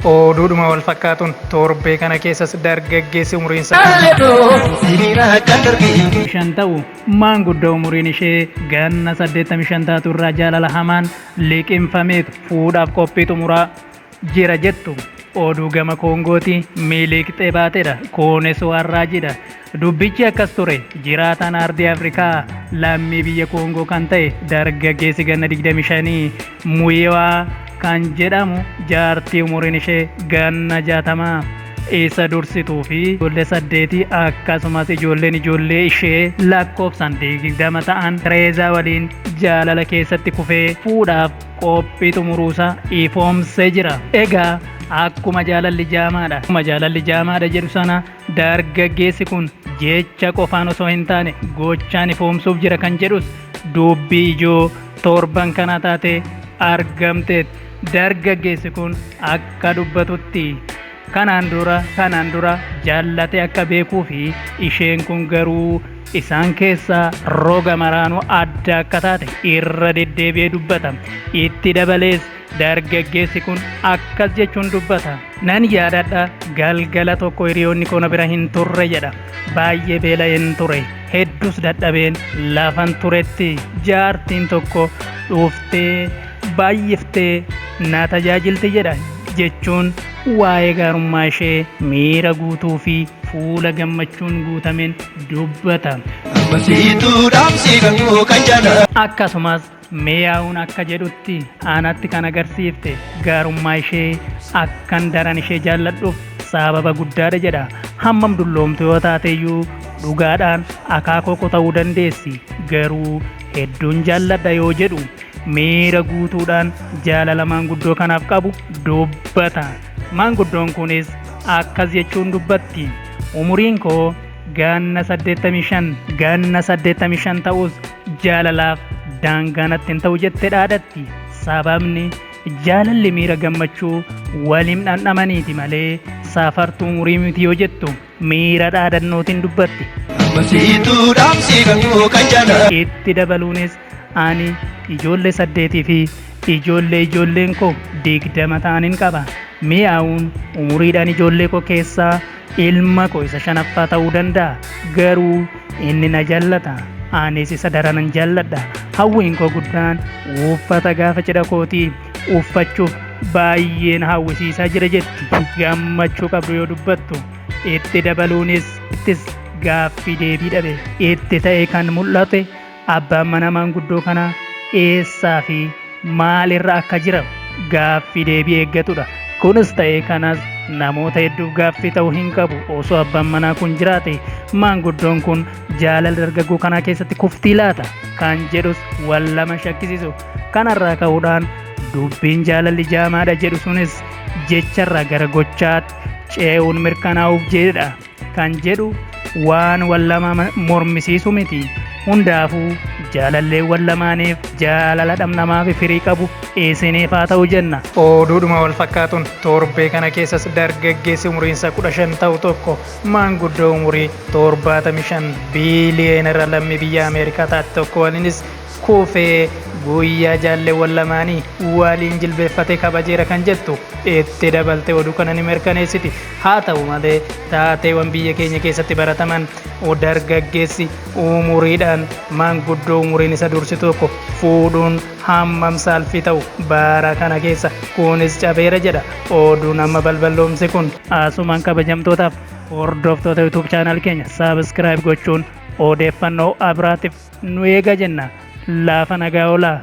Oduudhuma wal fakkaatuun torbee kana keessas dargaggeessi umriin isaa shan ta'u maanguddo umuriin ishee ganna 85 taatu irraa jaalala hamaan liqimfameetu fuudhaaf qophii xumuraa jira jettu oduu gama koongooti miiliiqxee baatedha kuunis waan raajiidha Dubbichi akkas ture, jiraataan Aardii Afrikaa lammii biyya Koongoo kan ta'e dargaggeessi ganna 25 Muyiwa kan jedhamu jaartii umuriin ishee ganna 60 isa dursituu fi ijoollee saddeetii akkasumas ijoolleen ijoollee ishee lakkoofsaan 20 ta'an Tereezaa waliin jaalala keessatti kufee fuudhaaf qophii xumuruusaa ifoomsee jira. Egaa akkuma jaalalli jaamaadha, akkuma jaalalli jaamaadha jedhu sana Dargaggeessi kun jecha qofaan osoo hin taane gochaan ifoomsuuf jira kan jedhus dubbii ijoo torban kanaa taatee argamteet. Dargaggeessi kun akka dubbatutti kanaan dura kanaan dura jaallatee akka beekuu fi isheen kun garuu isaan keessaa roga maraanuu adda akka taate irra deddeebi'ee dubbata. Itti dabalees Dargaggeessi kun akkas jechuun dubbata. Nan yaadadha, galgala tokko hiriyoonni koo na bira hin turre jedha. Baay'ee beela'een ture. Hedduus dadhabeen lafan turetti jaartiin tokko dhuftee baay'iftee na tajaajilti jedha jechuun waa'ee gaarummaa ishee miira guutuu fi fuula gammachuun guutameen dubbata. Akkasumas Meeyaawuun akka jedhutti anatti kan agarsiifte gaarummaa ishee akkan daran ishee jaalladhuuf saababa guddaadha jedha. Hammam dulloomtu yoo taateyyuu dhugaadhaan akaakoo ko ta'uu dandeessi garuu hedduun jaalladha yoo jedhu miira guutuudhaan jaalala maanguddoo kanaaf qabu dubbata. Maanguddoon kunis akkas jechuun dubbatti. Umuriin koo gaanna 85 gaanna 85 ta'us Jaalalaaf daangaa natti hin ta'u jette dhaadatti. Sababni jaalalli miira gammachuu waliin dhandhamaniiti malee saafartuu umurii miti yoo jettu miira dhaadannootiin dubbatti. Masiituu dhaamsii kan koo kan jaalala. Itti dabaluunis ani ijoollee saddeetii fi ijoollee ijoolleen koo digdama ta'aniin qaba. Mi'aawuun umuriidhaan ijoollee koo keessaa Ilma koo isa shanaffaa ta'uu danda'a, garuu inni na jallata, anis isa daranan jalladha. Hawwiin koo guddaan uffata gaafa cidha kootii uffachuuf baay'een hawwisiisaa jira jetti gammachuu qabdu yoo dubbattu. Itti dabaluunis ittis gaaffii deebii dhabe itti ta'e kan mul'ate Abbaan manaa maanguddoo kanaa eessaa fi maal irra akka jiran gaaffii deebii eeggatudha. Kunis ta'ee kanas namoota hedduuf gaaffii ta'uu hin qabu. Osoo abbaan manaa kun jiraate maanguddoon kun jaalala dargaggoo kanaa keessatti kuftii laata? Kan jedhus wal lama shakkisiisu. Kanarraa ka'uudhaan dubbiin jaalalli jaamaadha jedhu sunis jecharraa gara gochaatti ce'uun mirkanaa'uuf jedha. kan jedhu waan wal lama mormisiisu miti. Hundaafuu jaalalleewwan lamaaniif jaalala dhamdhamaa fi firii qabu isiniif haa ta'u jenna. Oduudhuma wal fakkaatuun torbee kana keessas dargaggeessi umuriinsa 15 ta'u tokko maanguddoo umurii 75 biiliyeenera lammii biyya Ameerikaa taate tokko waliinis kuufee guyyaa jaalleewwan lamaanii waliin jilbeeffatee kabajeera kan jettu itti dabalte oduu kana ni mirkaneessiti. Haa ta'u malee, taateewwan biyya keenya keessatti barataman dargaggeessi umuriidhaan manguddoo umuriin isa dursi tokko fuudhuun hammam saalfii ta'u bara kana keessa kunis cabeera jedha oduun amma balballoomse kun. Asumaan kabajamtootaaf hordoftoota YouTube channel keenya subscribe gochuun odeeffannoo abiraatiif nu eega jenna. Laafa nagaa olaa!